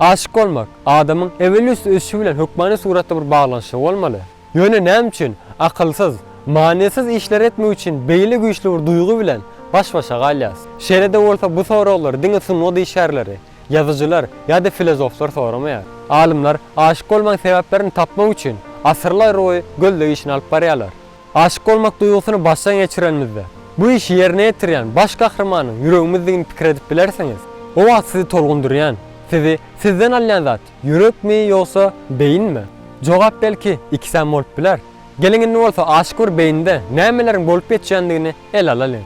Aşyk bolmak, adamyň ewelüsti ösüşi bilen hökmany suratda bir baglanyşygy bolmaly. Ýöne näme üçin akylsyz, manysyz işleri etmek üçin beýle güýçli bir duýgy bilen baş-başa galýas? Şeýle-de bolsa bu soraglary diňe sungat işgärleri, ýazyjylar ýa-da filozoflar soramaýar. Alymlar aşyk bolmagyň sebäplerini tapmak üçin asyrlarboýy gözleg işini alyp barýarlar. Aşyk bolmak duýgusyny başdan geçirenimizde, bu işi ýerine ýetirýän baş gahrymanyň ýüregimizdigini pikir edip bilersiňiz. O wagt sizi tolgundyrýan, sizi sizden alýan zat ýürekmi ýogsa beýinmi? Jogap belki ikisem bolup biler. Geliň indi bolsa aşyk bir beýnide nämeleriň bolup geçýändigini ele alalyň.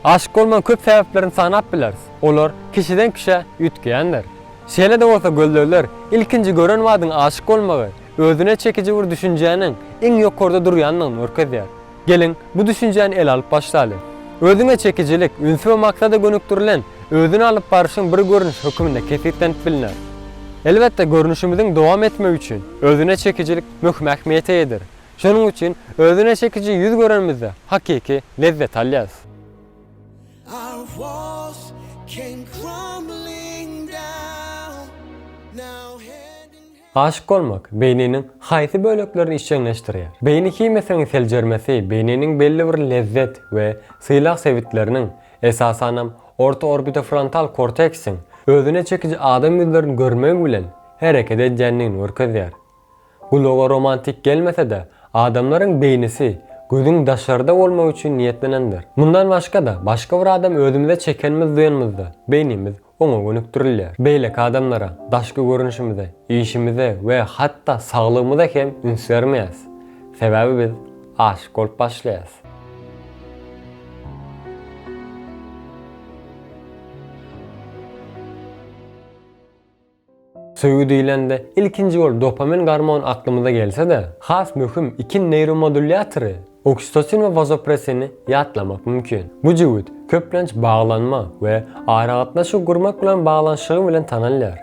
Aşyk bolmagyň köp sebäplerini sanap bileris, olar kişiden kişä üýtgeýändir. Şeýle-de bolsa gözlegler ilkinji gören badyň aşyk bolmagy, özüne çekiji bir düşünjäniň iň ýokarda durýandygyny görkezýär. Geliň, bu düşünjäni ele alyp başlaly. Özüňe çekijilik, ünsi we maksada gönükdirilen özüni alyp baryşyň bir görnüşi höküminde kesgitlenip bilner. Elbetde, görnüşimiziň dowam etmegi üçin özüne çekijilik möhüm ähmiýete eýedir. Şonuň üçin özüne çekiji ýüz görenimizde hakyky lezzet alýarys. Aşyk bolmak beýniniň haýsy böleklerini işjeňleşdirýär? Beýni himiýasynyň seljermesi beýniniň belli bir lezzet we sylag sebitleriniň, esasanam, orta orbitofrontal korteksiň özüne çekiji adam ýüzlerini görmegi bilen hereket edýändigini görkezýär. Gulaga romantik gelmese-de, adamlaryň beýnisi gözüň daşarda bolmagy üçin niýetlenendir. Mundan başga-da, başga bir adamy özümize çekenimizi duýanymyzda, beýnimiz oňa gönükdirilýär. Beýleki adamlara, daşky görnüşimize, işimize we hatda saglygymyza hem üns bermeýäs. Sebäbi biz aşyk bolup başlaýas. Söýgi diýlende, ilkinji bolup dopamin gormony aklymyza gelse-de, has möhüm iki neýromodulýatory, oksitosin we wazopresini ýatlamak mümkin. Bu jübüt, köplenç, baglanma we aragatnaşyk gurmak bilen baglanyşygy bilen tanalýar.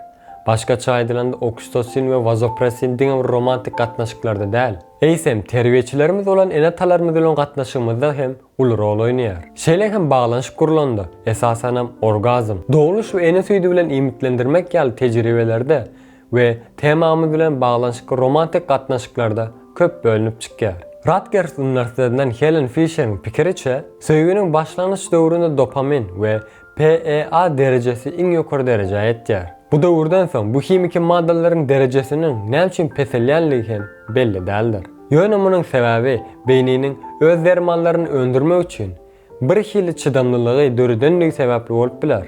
Başgaça aýdylanda, oksitosin we wazopresin diňe bir romantik gatnaşyklarda däl, eýsem, terbiýeçilerimiz bolan ene-atalarymyz bilen gatnaşygymyzda hem uly rol oýnaýar. Şeýle hem baglanyşyk gurlanda, esasanam orgazm, dogluş we ene süýdi bilen iýmitlendirmek ýaly tejribelerde we temamyz bilen baglanyşykly romantik gatnaşyklarda köp bölünip çykýar. Rutgers uniwersitetinden Helen Fişeriň pikiriçe, söýginiň başlangyç döwründe dopamin we PEA derejesi iň ýokary derejä ýetýär. Bu döwürden soň bu himiki maddalaryň derejesiniň näme üçin peselýänligi hem belli däldir. Ýöne munuň sebäbi beýniniň öz dermanlaryny öndürmek üçin birhili çydamlylygy döredendigi sebäpli bolup biler.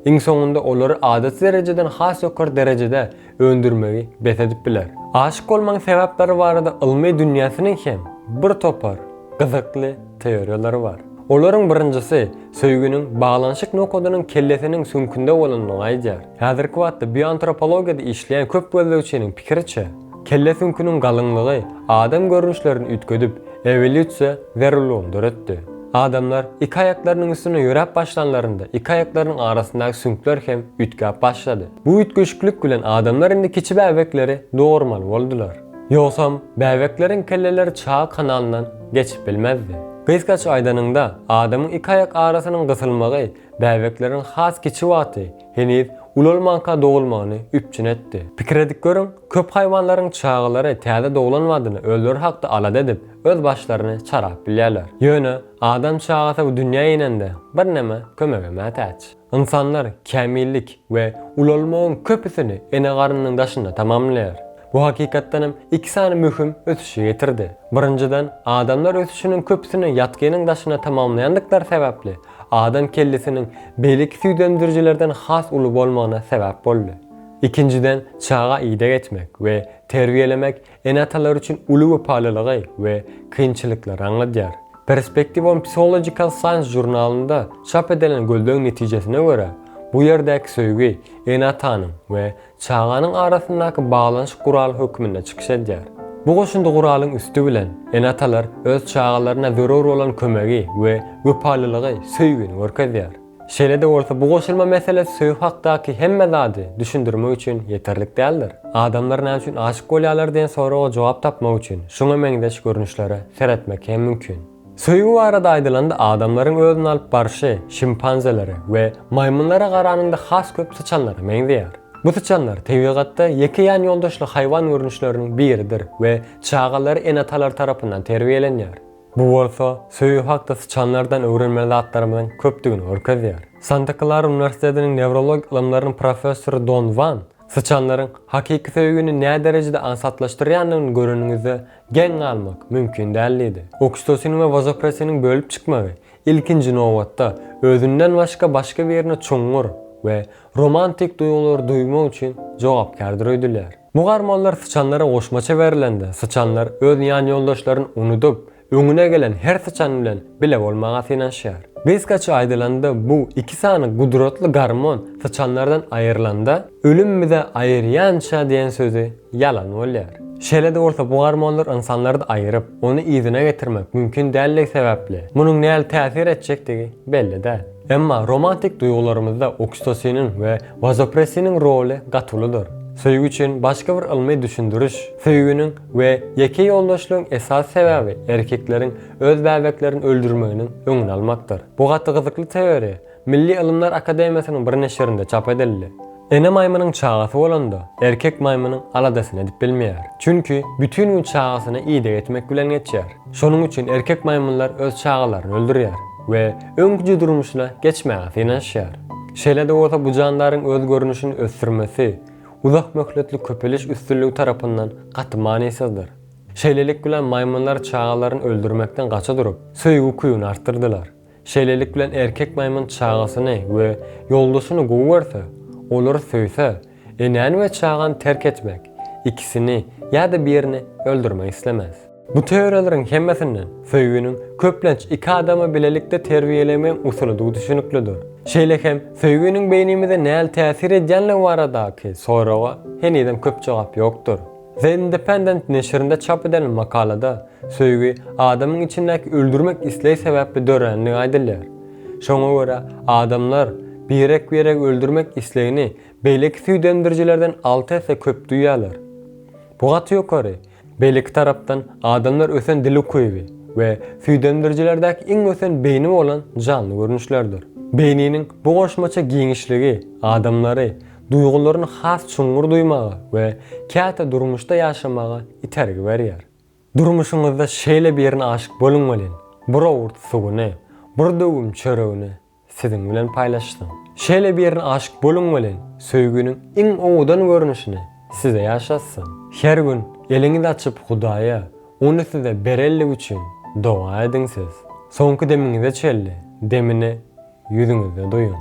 Iň soňunda olary adaty derejeden has ýokary derejede öndürmegi bes edip biler. Aşyk bolmagyň sebäpleri barada ylmy dünýäsiniň hem bir topar gyzykly teoriýalary bar. Olaryň birinjisi söýginiň baglanyşyk nokadynyň kellesiniň süňkünde bolandygyny aýdýar. Häzirki wagtda bioantropologiýada işleýän köp gözlegçiniň pikiriçe, kelle süňküniň galyňlygy adam görnüşlerini üýtgedip, ewolýusiýa zerurlygyny döretdi. Adamlar iki aýaklarynyň üstünde ýöräp başlanlarynda iki aýaklarynyň arasyndaky süňkler hem üýtgäp başlady. Bu üýtgeşiklik bilen adamlar indi kiçi bäbekleri dogurmaly boldular. Ýogsam, bäbekleriň kelleleri çaga kanalyndan geçip bilmezdi. Gysgaça aýdanyňda, adamyň iki aýak arasynyň gysylmagy bäbekleriň has kiçi wagty heniz ulalmanka dogulmagyny üpjün etdi. Pikir edip görüň, köp haýwanlaryň çagalary täze doglan badyna özleri hakda alada edip, öz başlaryny çarap bilýärler. Ýöne, adam çagasy bu dünýä inende birneme kömege mätäç. Ynsanlar kämillik we ulalmagyň köpüsini ene garnynyň daşynda tamamlaýar. Bu hakykatdan hem iki sany möhüm ösüşe getirdi. Birinjiden, adamlar ösüşiniň köpüsini ýatgynyň daşynda tamamlaýandyklary sebäpli, adam kellesiniň beýleki süýdemdirijilerden has uly bolmagyna sebäp boldy. Ikinjiden, çaga ideg etmek we terbiýelemek Ene-atalar üçin uly wepalylygy we kynçylyklary aňladýar. Perspective on Physiological Science žurnalynda çap edilen gözlegiň netijesine görä, bu ýerdäki söýgi ene-atanyň we çaganyň arasyndaky baglanyşyk guraly hökmünde çykyş edýär. Bu goşundy guralyň üsti bilen ene-atalar öz çagalaryna zerur bolan kömegi we wepalylygy, söýgini görkezýär. Şeýle-de bolsa, bu goşulma mesele söýgi hakdaky hemme zady düşündirmek üçin ýeterlik däldir. Adamlar näme üçin aşyk bolýarlar diýen soraga jogap tapmak üçin şuňa meňzeş görnüşlere seretmek hem mümkin. Söýgi barada aýdylanda adamlaryň özüni alyp barşy şimpanzelere we maýmynlara garanyňda has köp syçanlara meňzeýär. Bu syçanlar tebigatda ýeke ýan ýoldaşly haýwan görnüşleriniň biridir we çagalary ene-atalar tarapyndan terbiýelenýär. Bu bolsa, söýgi hakda syçanlardan öwrenmeli zatlarymyzyň köpdügini görkezýär. Santa Klara uniwersitetiniň newrologik ylymlarynyň professory Don Wan, Syçanlaryň hakyky söýgini näderejede aňsatlaşdyrýandygyny göreniňizde geň galmak mümkin däl diýdi. Oksitosin we wazopresiniň bölüp çykmagy, ilkinji nobatda, özünden başga başga birine çuňňur we romantik duýgulary duýmak üçin jogapkärdir öýdülýär. Bu garmonlar syçanlara goşmaça berilende, syçanlar öz ýanýoldaşlaryny unudyp, öňüne gelen her syçan bilen bile bolmaga synanyşýar. Gysgaça aýdylanda, bu iki sany gudratly garmon syçanlardan aýrylanda, Ölüm bizi aýyrýança diýen sözi ýalan bolýar. Şeýle-de bolsa, bu garmonlar ynsanlary-da aýyryp, ony yzyna getirmek mümkin däldigi sebäpli, munuň nähili täsir etjekdigi belli däl. Emma romantik duýgularymyzda oksitosiniň we wazopressiniň roly gaty uludyr. Söýgi üçin başga bir ylmy düşündiriş, söýginiň we ýeke ýoldaşlygyň esasy sebäbi erkekleriň öz bäbeklerini öldürmeginiň öňüni almakdyr. Bu gaty gyzykly teoriýa Milli ylymlar akademiýasynyň bir neşirinde çap edildi. Ene maýmynyň çagasy bolanda, erkek maýmynyň aladasyny edip bilmeýär. Çünki bütin gün çagasyna ideg etmek bilen geçýär. Şonuň üçin erkek maýmynlar öz çagalaryny öldürýär we öňküje durmuşyna geçmäge synanyşýar. Şeýle-de bolsa bu jandaryň öz görnüşini ösdürmesi uzak möhletli köpeliş üstünligi tarapyndan gaty manysyzdyr. Şeýlelik bilen maýmynlar çagalaryny öldürmekden gaça durup, söýgi-kuýuny artdyrdylar. Şeýlelik bilen erkek maýmyn çagasyny we ýoldaşyny gowy görse, olary söýse, enäni we çagany terk etmek, ikisini ýa-da birini öldürmek islemez. Bu teoriýalaryň hemmesinden söýginiň köplenç iki adamy bilelikde terbiýelemegiň usulydygy düşüniklidir. Şeýle hem söýginiň beýnimize nähili täsir edýänligi baradaky soraga henizem köp jogap ýokdur. The Independent neşirinde çap edilen makalada söýgi adamyň içindäki öldürmek isleg sebäpli dörändigi aýdylýar. Şoňa görä, adamlar birek-biregi öldürmek islegini beýleki süýdemdirijilerden alty esse köp duýýarlar. Bu gaty ýokary. Beýleki tarapdan, adamlar ösen dil ukyby we süýdemdirijilerdäki iň ösen beýni bolan janly görnüşlerdir. Beýniniň bu goşmaça giňişligi adamlary duýgularyny has çuňňur duýmaga we käte durmuşda ýaşamaga itergi berýär. Durmuşyňyzda şeýle birine aşyk boluň welin, bir owurt suwuny, bir döwüm çöregini siziň bilen paýlaşsyn. Şeýle birine aşyk boluň welin, söýginiň iň owadan görnüşini size ýaşatsyn. Her gün eliňizi açyp Hudaýa ony size bererligi üçin doga ediň siz. Soňky demiňize çenli demini ýüzüňizde duýun.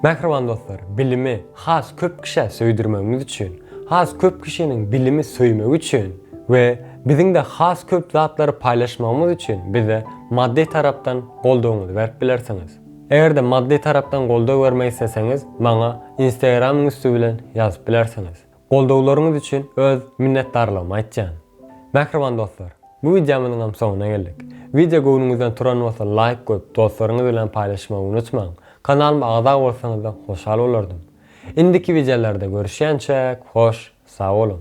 Mähriban dostlar, bilimi has köp kişä söýdürmegimiz üçin, has köp kişiniň bilimi söýmegi üçin we biziň-de has köp zatlary paýlaşmagymyz üçin bize maddy tarapdan goldawyňyzy berip bilersiňiz. Eger-de maddy tarapdan goldaw bermek isleseňiz, maňa Instagram-yň üsti bilen ýazyp bilersiňiz. Goldawlaryňyz üçin öz minnetdarlygymy aýtýan. Mähriban dostlar, bu wideomyzyňam soňuna geldik. Wideo göwnüňizden turan bolsa laýk goýup dostlaryňyz bilen paýlaşmagy unutmaň. Kanalyma agza bolsaňyzam hoşal bolardym. Indiki wideolarda görüşýänçäk hoş sag boluň.